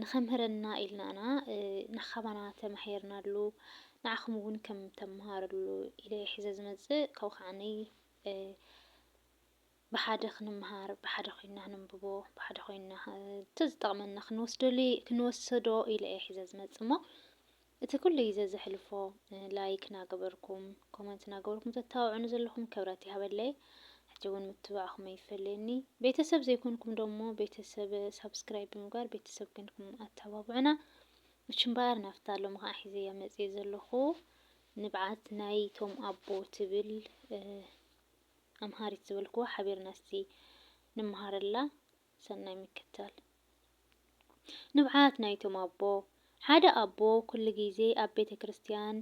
ንከምህረና ኢልና ኢና ናካባና ተማሒርናሉ ንዓኩም ውን ከም ተማሃርሉ ኢለ ሒዘ ዝመጽእ ካብኡ ከዓኒ ብሓደ ክንማሃር ብሓደ ኮይና ክንብቦ ብሓደ ኮይና ተዝጠቅመና ክንወስደሉ ክንወሰዶ ኢለ እየ ሒዘ ዝመጽእ እሞ እቲ ኩሉ ግዜ ዘሕልፎ ላይክ ናገበርኩም ኮመንት ናገበርኩም ተታብዑኒ ዘለኹም ክብረት ይሃበለይ ሕጂ ውን ምትባዕኹም ኣይፈለየኒ ቤተሰብ ዘይኮንኩም ዶሞ ቤተሰብ ሳብስክራይብ ብምግባር ቤተሰብ ኮንኩም ኣታባብዑና እች እምበኣር ናፍታ ሎሚ ከዓ ሒዘያ መፅየ ዘለኹ ንብዓት ናይ ቶም ኣቦ ትብል ኣምሃሪት ዝበልክዋ ሓቢርና እስቲ ንመሃረላ ሰናይ ምክታል ንብዓት ናይቶም ኣቦ። ሓደ ኣቦ ኩሉ ግዜ ኣብ ቤተ ክርስትያን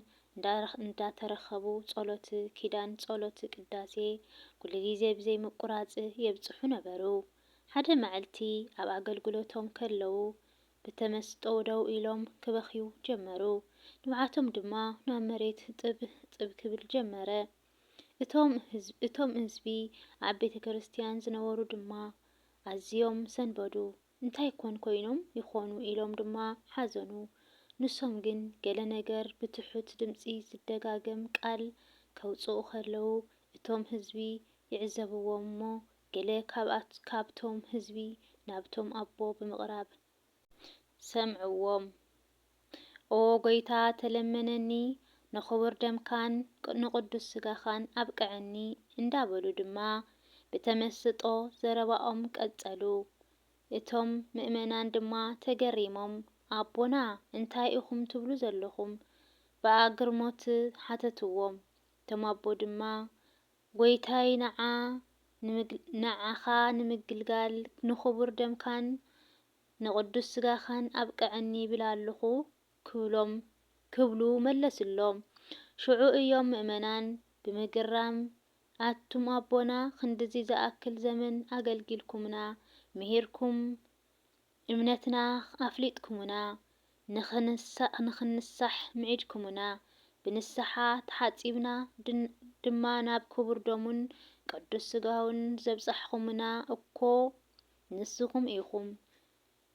እንዳተረከቡ ጸሎት ኪዳን ጸሎት ቅዳሴ ኩሉ ግዜ ብዘይ ምቁራጽ የብጽሑ ነበሩ። ሓደ መዕልቲ ኣብ ኣገልግሎቶም ከለዉ ብተመስጦ ደው ኢሎም ክበኽዩ ጀመሩ። ንብዓቶም ድማ ናብ መሬት ጥብ ጥብ ክብል ጀመረ። እቶም እቶም ህዝቢ ኣብ ቤተ ክርስትያን ዝነበሩ ድማ ኣዝዮም ሰንበዱ፣ እንታይ ኮን ኮይኖም ይኾኑ ኢሎም ድማ ሓዘኑ። ንሶም ግን ገለ ነገር ብትሑት ድምጺ ዝደጋገም ቃል ከውጽኡ ከለዉ እቶም ህዝቢ ይዕዘብዎም እሞ ገለ ካብቶም ህዝቢ ናብቶም ኣቦ ብምቕራብ፣ ሰምዕዎም። ኦ ጐይታ ተለመነኒ፣ ንኽቡር ደምካን ንቕዱስ ስጋኻን ኣብቅዐኒ እንዳበሉ ድማ ብተመስጦ ዘረባኦም ቀጸሉ። እቶም ምእመናን ድማ ተገሪሞም ኣቦና እንታይ ኢኹም ትብሉ ዘሎኹም? ብኣግርሞት ሓተትዎም። እቶም ኣቦ ድማ ጐይታይ ንዓ ንዓኻ ንምግልጋል ንኽቡር ደምካን ንቕዱስ ስጋኻን ኣብቅዐኒ ይብል ኣሎኹ ክብሎም ክብሉ መለሱሎም። ሽዑ እዮም ምእመናን ብምግራም ኣቱም ኣቦና ክንድዚ ዝኣክል ዘመን ኣገልጊልኩምና ምሂርኩም እምነትና ኣፍሊጥኩሙና፣ ንኽንሳእ ንኽንሳሕ ምዒድኩሙና፣ ብንስሓ ተሓጺብና ድማ ናብ ክቡር ደሙን ቅዱስ ስጋኡን ዘብጻሕኹሙና እኮ ንስኹም ኢኹም።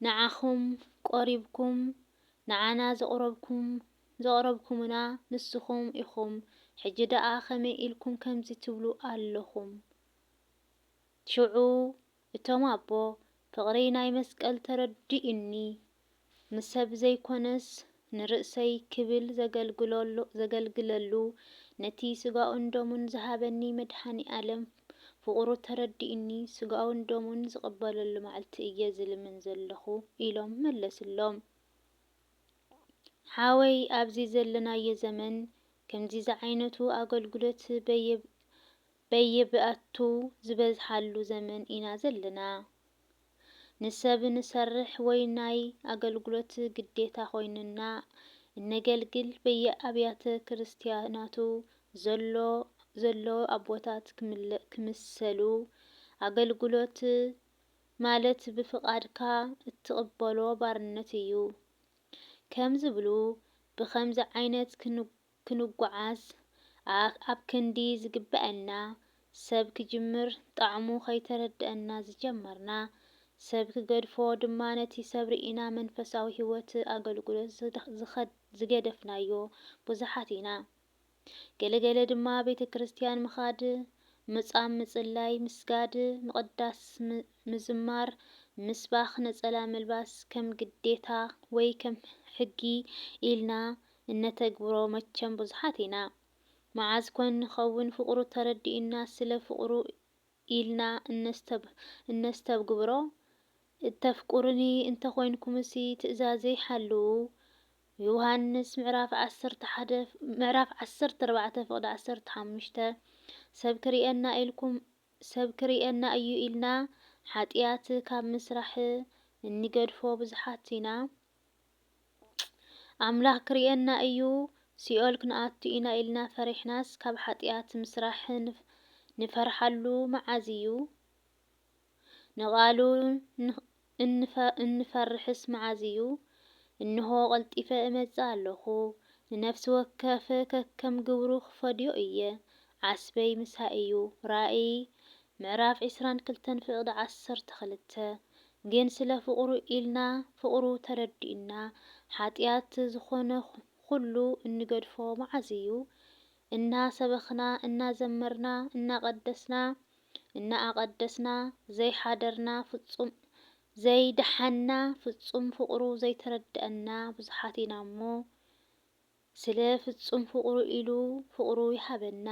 ንዓኹም ቆሪብኩም ንዓና ዘቕረብኩም ዘቕረብኩሙና ንስኹም ኢኹም። ሕጂ ደኣ ከመይ ኢልኩም ከምዚ ትብሉ ኣለኹም? ሽዑ እቶም ኣቦ ፍቕሪ ናይ መስቀል ተረዲኡኒ ንሰብ ዘይኮነስ ንርእሰይ ክብል ዘገልግለሉ ነቲ ስጋኡን ደሙን ዝሃበኒ መድሃኒኣለም ፍቕሩ ተረዲኡኒ ስጋኡን ደሙን ዝቕበለሉ ማዕልቲ እየ ዝልምን ዘለኹ ኢሎም መለስሎም። ሓወይ ኣብዚ ዘለናዮ ዘመን ከምዚ ዝዓይነቱ ኣገልግሎት በየ በየብያቱ ዝበዝሓሉ ዘመን ኢና ዘለና። ንሰብ ንሰርሕ ወይ ናይ ኣገልግሎት ግዴታ ኮይኑና እነገልግል በየኣብያተ ክርስትያናቱ ዘሎ ዘለዉ ኣቦታት ክምሰሉ ኣገልግሎት ማለት ብፍቃድካ እትቅበሎ ባርነት እዩ ከም ዝብሉ ብከምዚ ዓይነት ክንጉዓዝ ኣኣብ ክንዲ ዝግበኣና ሰብ ክጅምር ጣዕሙ ከይተረደኣና ዝጀመርና ሰብ ክገድፎ ድማ ነቲ ሰብ ርኢና መንፈሳዊ ሂወት ኣገልጉሎት ዝገደፍናዮ ብዙሓት ኢና ገለ ገለ ድማ ቤተክርስትያን ምኻድ ምጻም ምጽላይ ምስጋድ ምቕዳስ ምዝማር፣ ምስባኽ፣ ነጸላ ምልባስ ከም ግዴታ ወይ ከም ሕጊ ኢልና እነተግብሮ መቸም ብዙሓት ኢና። መዓዝ ኮን ንኸውን ፍቕሩ ተረዲኡና ስለ ፍቕሩ ኢልና እነስተብግብሮ? እተፍቅሩኒ እንተ ኾይንኩምሲ ትእዛዘይ ሓልዉ፣ ዮሃንስ ምዕራፍ ዓሰርተ ሓደ ምዕራፍ ዓሰርተ ኣርባዕተ ፍቕዲ ዓሰርተ ሓሙሽተ፣ ሰብ ክርእየና ኢልኩም ሰብ ክርእየና እዩ ኢልና ሓጥያት ካብ ምስራሕ እንገድፎ ብዙሓት ኢና። ኣምላኽ ክርእየና እዩ፣ ሲኦል ክንኣቱ ኢና ኢልና ፈሪሕናስ ካብ ሓጥያት ምስራሕ ንፈርሓሉ መዓዝ እዩ? ንቓሉ እንፈርሕስ መዓዝ እዩ? እንሆ ቐልጢፈ እመጽእ ኣሎኹ፣ ንነፍሲ ወከፍ ከከም ግብሩ ኽፈድዮ እየ። ዓስበይ ምሳይ እዩ። ራእይ ምዕራፍ ዕስራን ክልተን ፍቕዲ ዓሰርተ ክልተ ግን ስለ ፍቕሩ ኢልና፣ ፍቕሩ ተረዲኡና፣ ሓጢኣት ዝኾነ ኹሉ እንገድፎ መዓዝ እዩ? እናሰበኽና፣ እናዘመርና፣ እናቐደስና፣ እናኣቐደስና ዘይሓደርና ፍጹም ዘይደሓንና ፍጹም ፍቕሩ ዘይተረደኣና ብዙሓት ኢና'ሞ ስለ ፍጹም ፍቕሩ ኢሉ ፍቕሩ ይሃበና።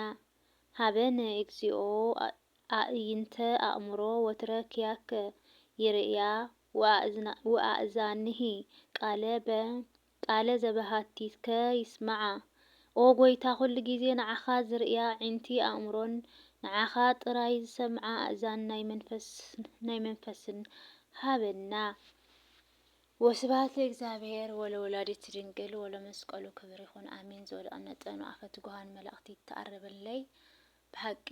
ሀበነ እግዚኦ ኣእይንተ ኣእምሮ ወትረ ኪያከ ይርእያ ወኣእዛንሂ ቃለ በ ቃለ ዘበሃቲትከ ይስማዓ ኦ ጎይታ ኩሉ ግዜ ንዓኻ ዝርእያ ኣዒንቲ ኣእምሮን ንዓኻ ጥራይ ዝሰምዓ ኣእዛን ናይ መንፈስን ናይ መንፈስን ሃበና ወስብሃት ለእግዚኣብሔር ወለወላዲቱ ድንግል ወለመስቀሉ ክብር ይኹን ኣሜን ዝወደቐ መጠኑ ኣፈ ትጉሃን መላእክት ይተኣረበለይ ብሓቂ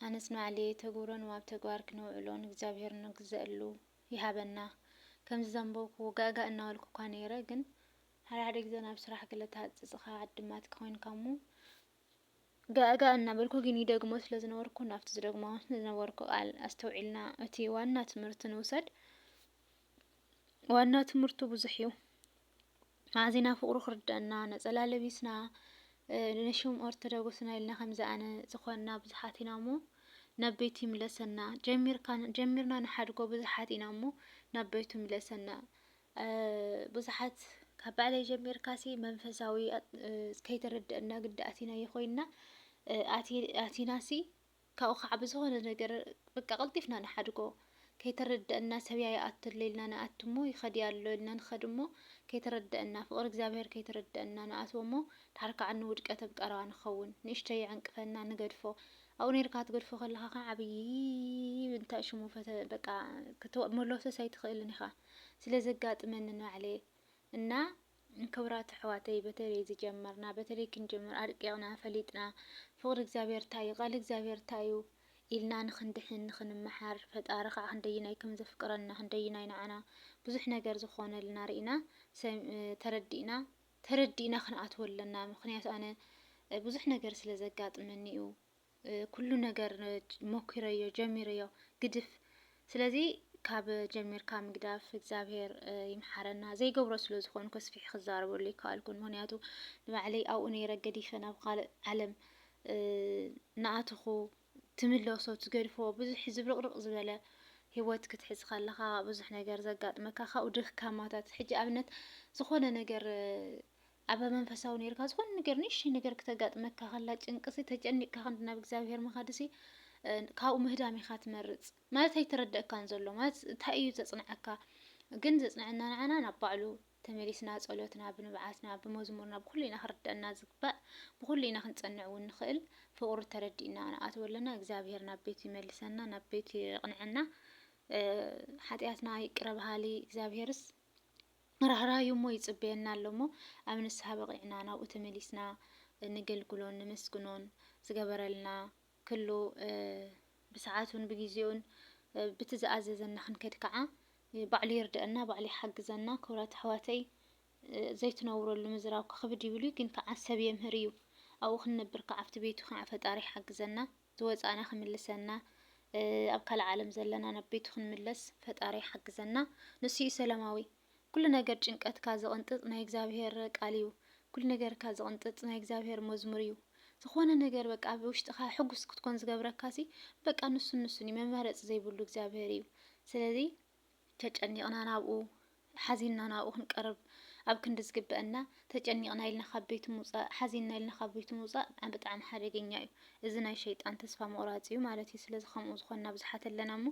ኣነስ ንባዕለይ እተግብሮን ዋብ ተግባር ክነውዕሎን እግዚኣብሄር እንግዘኣሉ ይሃበና ከምዚ ዘንበብኩዎ ጋእጋእ እናበልኩ እኳ ነይረ ግን ሓደ ሓደ ግዘ ናብ ስራሕ ገለ ተሃጽጽኻ ዓድማትኪ ኮይንካ እሞ ጋእጋእ እናበልኩ ግን ይደግሞ ስለ ዝነበርኩ ናብቲ ዝደግሞ ዝነበርኩ ቃል ኣስተውዒልና እቲ ዋና ትምህርቲ ንውሰድ ዋና ትምህርቱ ብዙሕ እዩ ኣዚና ፍቅሩ ክርደኣና ነጸላ ለቢስና ነሹም ኦርተደጉስና ኢልና ከምዚ ኣነ ዝኾንና ብዙሓት ኢና እሞ ናብ ቤቱ ይምለሰና ጀሚርካ ጀሚርና ንሓድጎ ብዙሓት ኢና እሞ ናብ ቤቱ ይምለሰና ብዙሓት ካብ ባዕለይ ጀሚርካሲ መንፈሳዊ ከይተረደአና ግዲ ኣቲናዮ ኮይንና ኣቲናሲ ካብኡ ካዓ ብዝኮነ ነገር በቃ ቀልጢፍና ንሓድጎ ከይተረደእና ሰብያ ይኣቱ ኣሎ ኢልና ንኣቱ እሞ ይከድያ ኣሎ ኢልና ንከድ እሞ ከይተረደእና ፍቅሪ እግዚኣብሔር ከይተረደእና ንኣትዎ እሞ ድሓር ካዓ ንውድቀት ኣብ ቀረባ ንከውን ንእሽተይ ይዕንቅፈና ንገድፎ ኣብኡ ነይርካ ክትገድፎ ከለካ ካዓ ዓብይ እንታይ ሽሙ ፈተ በቃ ክትመሎሰስ ኣይትክእልን ኢካ ስለዘጋጥመኒ ንባዕለይ እና ክብራት ኣሕዋተይ በተለይ ዝጀመርና በተለይ ክንጅምር ኣርቂቅና ፈሊጥና ፍቅሪ እግዚኣብሔር እንታይ እዩ ቃል እግዚኣብሔር እንታይ እዩ ኢልና ንክንድሕን ንክንመሓር ፈጣሪ ከዓ ክንደይናይ ከም ዘፍቅረና ክንደይናይ ንዓና ብዙሕ ነገር ዝኾነልና ርኢና ተረዲእና ተረዲእና ክንኣትዎ ኣለና ምክንያቱ ኣነ ብዙሕ ነገር ስለ ዘጋጥመኒ እዩ ኩሉ ነገር ሞኪረዮ ጀሚረዮ ግድፍ ስለዚ ካብ ጀሚርካ ምግዳፍ እግዚኣብሄር ይምሓረና ዘይገብሮ ስለ ዝኾንኩ ኣስፊሒ ክዛረበሉ ይከኣልኩን ምክንያቱ ንባዕለይ ኣብኡ ነይረ ገዲፈ ናብ ካልእ ዓለም ንኣትኹ ትምለሶ ትገድፎ ብዙሕ ዝብርቕርቕ ዝበለ ሂወት ክትሕዝ ከለኻ ብዙሕ ነገር ዘጋጥመካ ካብኡ ድካማታት ሕጂ ኣብነት ዝኾነ ነገር ኣበ መንፈሳዊ ነይርካ ዝኾነ ነገር ንእሽተይ ነገር ክተጋጥመካ ከላ ጭንቅሲ ተጨኒቅካ ክንዲ ናብ እግዚኣብሄር ምኻድሲ ካብኡ ምህዳም ኢኻ ትመርፅ ማለት ኣይተረደእካን ዘሎ ማለት እንታይ እዩ ዘፅንዐካ ግን ዘፅንዐና ንዓና ናብ ባዕሉ ተመሊስና ጸሎትና ብንብዓትና ብመዝሙርና ብኩሉ ኢና ክርደአና ዝግባእ ብኩሉ ኢና ክንጸንዕ እውን ንኽእል ፍቅሩ ተረዲእና ንኣትዎ ኣለና እግዚኣብሄር ናብ ቤቱ ይመልሰና ናብ ቤቱ የቕንዐና ሓጢኣትና ይቅረ በሃሊ እግዚኣብሄርስ ራህራህ እሞ ይጽበየና ኣሎ እሞ ኣብ ንስሃ በቒዕና ናብኡ ተመሊስና ነገልግሎን ነመስግኖን ዝገበረልና ክሉ ብሰዓቱን ብግዜኡን ብቲ ዝኣዘዘና ክንከድ ከዓ ባዕሉ ይርደአና ባዕሉ ይሓግዘና ክብራት ኣሕዋተይ ዘይትነብረሉ ምዝራብ ክኽብድ ይብሉ ግን ከዓ ሰብ የምህር እዩ ኣብኡ ክንነብር ከዓ ኣብቲ ቤቱ ከዓ ፈጣሪ ይሓግዘና ዝወፃእና ክምልሰና ኣብ ካልእ ዓለም ዘለና ናብ ቤቱ ክንምለስ ፈጣሪ ይሓግዘና ንሱ እዩ ሰላማዊ ኩሉ ነገር ጭንቀትካ ዝቕንጥጥ ናይ እግዚኣብሄር ቃል እዩ ኩሉ ነገርካ ዝቕንጥጥ ናይ እግዚኣብሄር መዝሙር እዩ ዝኾነ ነገር በቃ ኣብ ውሽጥኻ ሕጉስ ክትኮን ዝገብረካሲ በቃ ንሱን ንሱን እዩ መማረፂ ዘይብሉ እግዚኣብሄር እዩ ስለዚ ተጨኒቕና ናብኡ፣ ሓዚንና ናብኡ ክንቀርብ ኣብ ክንዲ ዝግበአና ተጨኒቕና ኢልና ካብ ቤቱ ምውፃእ፣ ሓዚንና ኢልና ካብ ቤቱ ምውፃእ ብጣዕሚ ሓደገኛ እዩ። እዚ ናይ ሸይጣን ተስፋ ምቑራፅ እዩ ማለት እዩ። ስለዚ ከምኡ ዝኾንና ብዙሓት ኣለና እሞ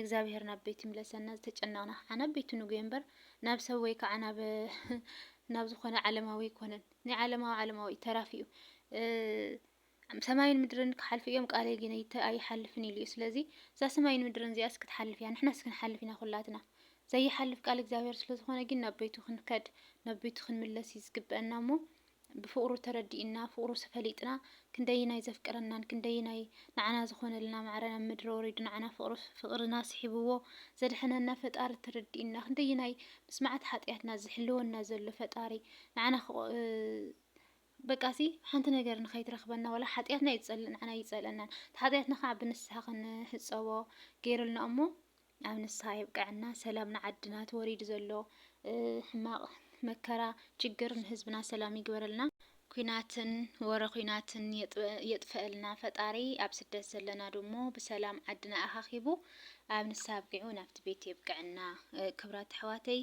እግዚኣብሔር ናብ ቤቱ ይምለሰና። ዝተጨነቕና ከዓ ናብ ቤቱ ንጉየ እምበር ናብ ሰብ ወይ ከዓ ናብ ናብ ዝኾነ ዓለማዊ ኣይኮነን። ናይ ዓለማዊ ዓለማዊ እዩ ተራፊ እዩ። ሰማይን ምድርን ክሓልፉ እዮም ቃለይ ግን ኣይሓልፍን ኢሉ እዩ ስለዚ እዛ ሰማይን ምድርን እዚኣስ ክትሓልፍ እያ ንሕናስ ክንሓልፍ ኢና ኩላትና ዘይሓልፍ ቃል እግዚኣብሔር ስለ ዝኾነ ግን ናብ ቤቱ ክንከድ ናብ ቤቱ ክንምለስ እዩ ዝግበአና እሞ ብፍቅሩ ተረዲእና ፍቅሩ ፈሊጥና ክንደይናይ ዘፍቅረናን ክንደይናይ ንዓና ዝኾነልና ማዕረ ናብ ምድሪ ወሪዱ ንዓና ፍቅሩ ፍቅርና ስሒብዎ ዘድሐነና ፈጣሪ ተረዲእና ክንደይናይ ምስ መዓት ሓጢኣትና ዝሕልወና ዘሎ ፈጣሪ ንዓና በቃ'ሲ ሓንቲ ነገር ንኸይትረኽበና ዋላ ሓጥያትና እዩ ዝጸልእ ንዓና ኣይጸልኣናን እቲ ሓጥያትና ከዓ ብንስሓ ክንሕጸቦ ገይሩልና እሞ ኣብ ንስሓ የብቀዐና ሰላም ንዓድና እቲ ወሪዱ ዘሎ ሕማቕ መከራ ችግር ንህዝብና ሰላም ይግበረልና ኩናትን ወረ ኩናትን የጥፈአልና ፈጣሪ ኣብ ስደት ዘለና ድሞ ብሰላም ዓድና ኣኻኺቡ ኣብ ንሳ ኣብቂዑ ናብቲ ቤት የብቅዐና ክብራት ኣሕዋተይ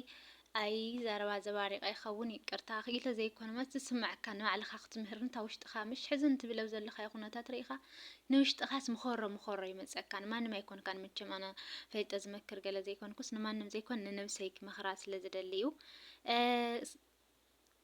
ኣይ ዘረባ ዘባሪቀ ይከውን ይቅርታ ክኢለ ዘይኮነ መስ ዝስመዐካ ንባዕልካ ክትምህርን እታ ውሽጥካ ምሽ ሕዚ ንትብል ኣብ ዘለካዮ ኩነታት ሪኢካ ንውሽጥካስ ምኮሮ ምኮሮ ይመፀካ ንማንም ኣይኮንካን መቸም ኣነ ፈልጠ ዝመክር ገለ ዘይኮንኩስ ንማንም ዘይኮን ንነብሰይ ክመክራ ስለ ዝደሊ እዩ